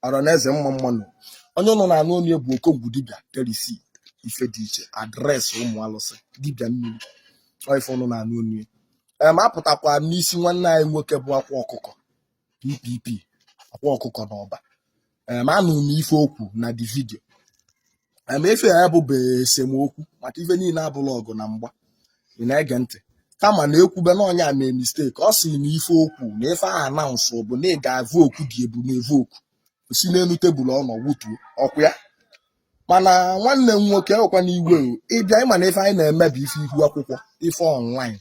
ọra na eze mma mma nụ onye unu na-anụ onu ya bụ okongwu dibịa terisi ife dị iche adreesị ụmụ alụsị dibịa mmiri ọ ife unu na-anụ onu ya em apụtakwa n'isi nwanne anyị nwoke bụ akwa ọkụkọ ppp akwa ọkụkọ na ọba em anụ m ife o kwu na di vidio emefe ya bụ esemokwu maka ife niile abụla ọgụ na mgba ị na-ege ntị mana e kwube na onye a mee mistake ọ sị na ife o kwu na ife ahụ anaụnsụ bụ na ị ga-avụ okwu di ebunu evu okwu si n'elu tebụl ọ nọ wutuo ọkwa ya mana nwanne m nwoke ọkwa na iwe ịbịa ịma na ife anyị na-eme bụ ife ihu akwụkwọ ife ọnlaịn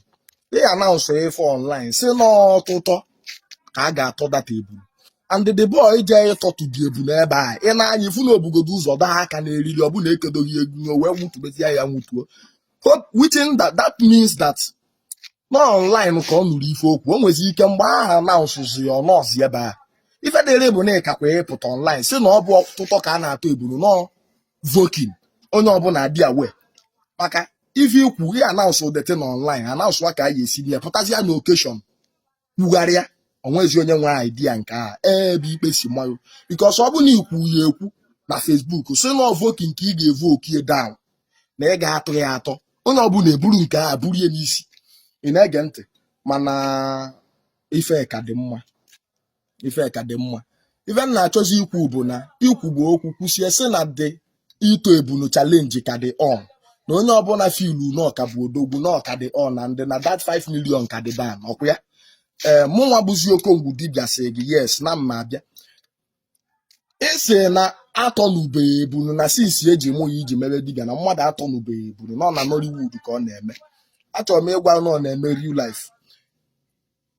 ị anaụnsụ ife ọnlaịn si n'ọtụtọ ka a ga-atọ dat ebunu and the boy jee ịtọtụ di ebunu ebe a ị na-anya ifu na o bugodo ụzọ daa aka n'eriri ọbụna ekedoghị egwu o wee nwụtụbezie ya nwụtuo Hope- which in that, that means that na online ka ọ nụrụ ife o kwu o nwezi ike mgbe a anaụsụzi ya anaụsụ ebe a ife dịrị bụ na ịkakwa ịpụta online si na ọ bụ ọtụtọ ka a na-atọ ebunu nọ vokin onye ọbụla dị aware maka ife i kwu ihe anaụsụ deti na online anaụsụ ka a ga-esi bịa pụtazịa na okeshọn kwugharịa o nwezi onye nwe idea nke a ebe ikpe si mayụ bikos ọ bụ na i kwu ya ekwu na fesbuk si na ọvoki nke ị ga-evu okie down na ị ga-atọ ya atọ onye ọbụla eburu nke a buru ya n'isi ị na-ege ntị mana ife ka dị mma ife ka dị mma ife m na-achọzi ikwu bụ na i kwubu okwu kwusie sị na di ịtọ ebunu chalenji ka dị on na onye ọbụla filu na ọ ka bụ odogwu na ọ ka dị on na di na dat 5 milion ka dị down ọkwa ya ee mụnwa bụzi okongwu dibịa sị gị yes na mma abịa ị sị na atọnubeghị ebunu na since e ji mụ ya i ji mebe dibịa na mmadụ atọnubeghị ebunu na ọ na Nollywood ka ọ na-eme achọrọ m ịgwa na ọ na-eme real life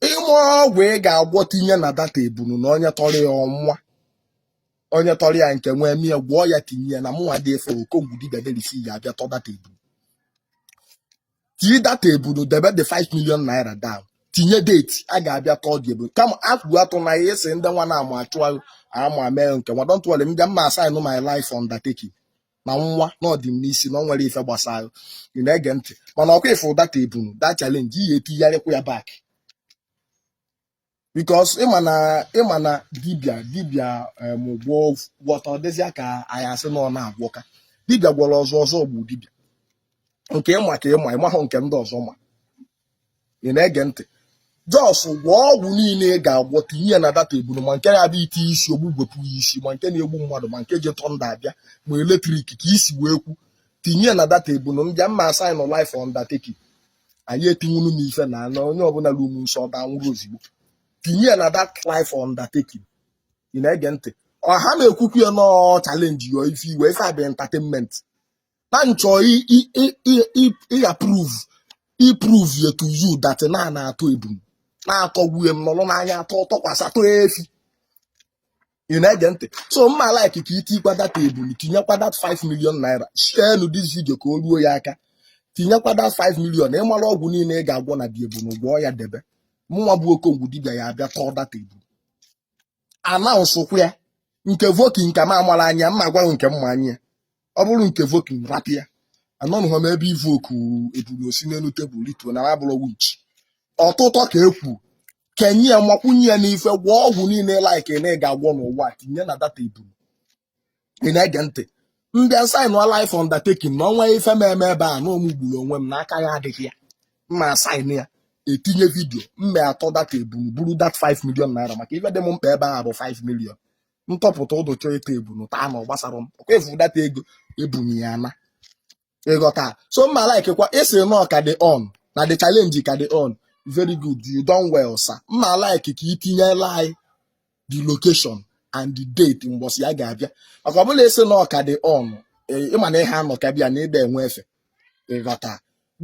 i mee ọgwụ ị ga-agwọ tinye na dat ebunu na onye tọrọ ya ọ nwụa onye tọrọ ya nke nwa emie gwọọ ya tinye ya na mụnwa dị efe okongwu dibịa derisi ya abịa tọ dat ebunu tii dat ebunu debe the 5 million naira down tinye deti a ga-abịa tọọ di ebunu kama egwu atụna gị sị ndị nwa na-ama achụ ama mee nke nwa don't worry m bịa mma asaịnụ my life undertaking na nwa na ọ dị m n'isi na ọ nwere ife gbasara ị na-ege ntị mana ọkwa ịfụ dat ebunu da chalenji ị ya etigharịkwa ya bak bikos ịma na ịma na dibia dibia em, gwọ gwọta ọ dịzịa ka a ya asị na ọ na-agwọka dibia gwọrọ ọzọ ọzọ gbuo dibia nke ị ma ka ị ma ị mahụ nke ndị ọzọ ma ị na-ege ntị jos gwọọ ọgwụ niile ị ga-agwọ tinye ya na dat ebunu ma nke na-abịa ite isi ogbu gwepụ ya isi ma nke na-egbu mmadụ ma nke ji thunder abịa ma electric ka i si wee kwu tinye ya na dat ebunu m bịa m ma-asign life undertaking anyị etinwunu m ife na anọ onye ọbụla ruo m nsọ ọ ga-anwụrụ ozugbo tinye ya na dat life undertaking ị na-ege ntị ọha na-ekwukwu ya nọọ challenge yo ife iwe ife a bụ entertainment na m chọ ịaprove iprove ya to you that na na-atọ ebunu na-atọgbuye m nọrọ n'anya atọ tọkwasị atọ efi ị na-ege ntị so m ma like ka i tiikwa that ebunu tinyekwa that 5 million naira sharenụ this video ka o ruo ya aka tinyekwa that 5 million ị mara ọgwụ niile ị ga-agwọ na the ebunu gwọọ ya debe mụnwa bụ okongwu dibịa ya-abịa tọọ that ebunu anaụsụkwa ya nke invoke nke ma amara anya mma agwaghị nke mma anya ọ bụrụ nke invoke rapụ ya anọnụghọ m ebe invoke ebunu o si n'elu tebụl rituo na m abụrọ witch ọtụtọ ka e kwuru kenye ya makwunye ya n'ife gwọọ ọgwụ niile like na ị ga-agwọ n'ụwa tinye na dat ebunu ị na-ege ntị m bịa sign life undertaking na o nwee ife m eme ebe a na ọ mụ gburu onwe m na aka ya adịghị ya m ma-asign ya etinye vidio m ma-atọ dat ebunu buru dat 5 million naira maka ife dị m mkpa ebe a bụ 5 million m tọpụta ụdụ chọọ ịta ebunu taa na ọ gbasarọ m ọkwa evu dat ego ebunye ya na ị ghọta so m ma likekwa ị sị na ọ ka dị on na the challenge ka dị on very good you done well sir m ma like ka i tinyela anyị the location and the date mbọsị a ga-abịa maka ọbụla ị sị na ọ ka dị on ị ma na ihe anọ ka bịa na ị da-enwe efe ị ghọta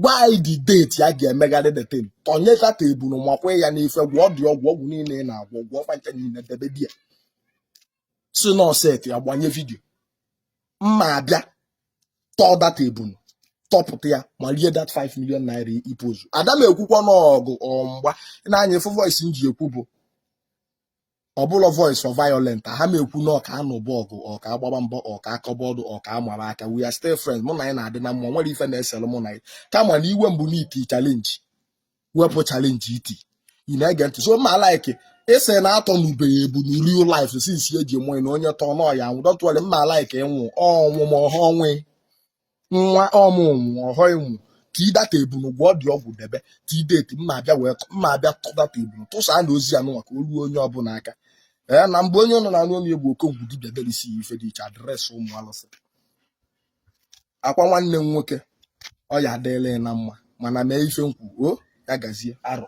gwa anyị the date a ga-emegharị the thing tọnyeta tebụl makwa ya n'ife gwọọ dị ọgwụ ọgwụ niile ị na-agwọ gwọọ fa ncha niile debe di ya sị na ọ setịa a gbanye vidio m ma-abịa tọọ dat ebunu tọpụta ya m erie dat 5 million naira ipozu ada m ekwukwa n'ọgụ ọ mgba na-anya efu voice m ji ekwu bụ ọ bụrọ voice of violent ha m ekwu na ọka anụ bụ ọgụ ọka agbaba mbọ ọka akọba ọdụ ọka amara aka we are still friends mụ na gị na-adị na mma o nwerọ ife na-esere mụ na gị kama na iwe mbụ n'iti challenge wepụ challenge iti ị na-ege ntị so m ma like ị sị na atọnubeghị ebunu real life since e ji mụọ na onye tọọ na ọ ya-anwụ dọtụwere m ma like ịnwụ ọnwụ ma ọha ọnwụ nwa ọmụnwụ ọhọ ịnwụ tii dat ebunu gwọ dị ọgwụ debe tii date m ma-abịa wee m ma-abịa tọọ dat ebunu tụsa na ozi anụ maka olu onye ọbụla aka ee na mgbe onye nọ na anụ onye bụ okonkwo dibịa delisi ife dị iche adresị ụmụ alụsị akwa nwanne m nwoke ọ ya adịla na mma mana mee ife m kwu o ya gazie arọ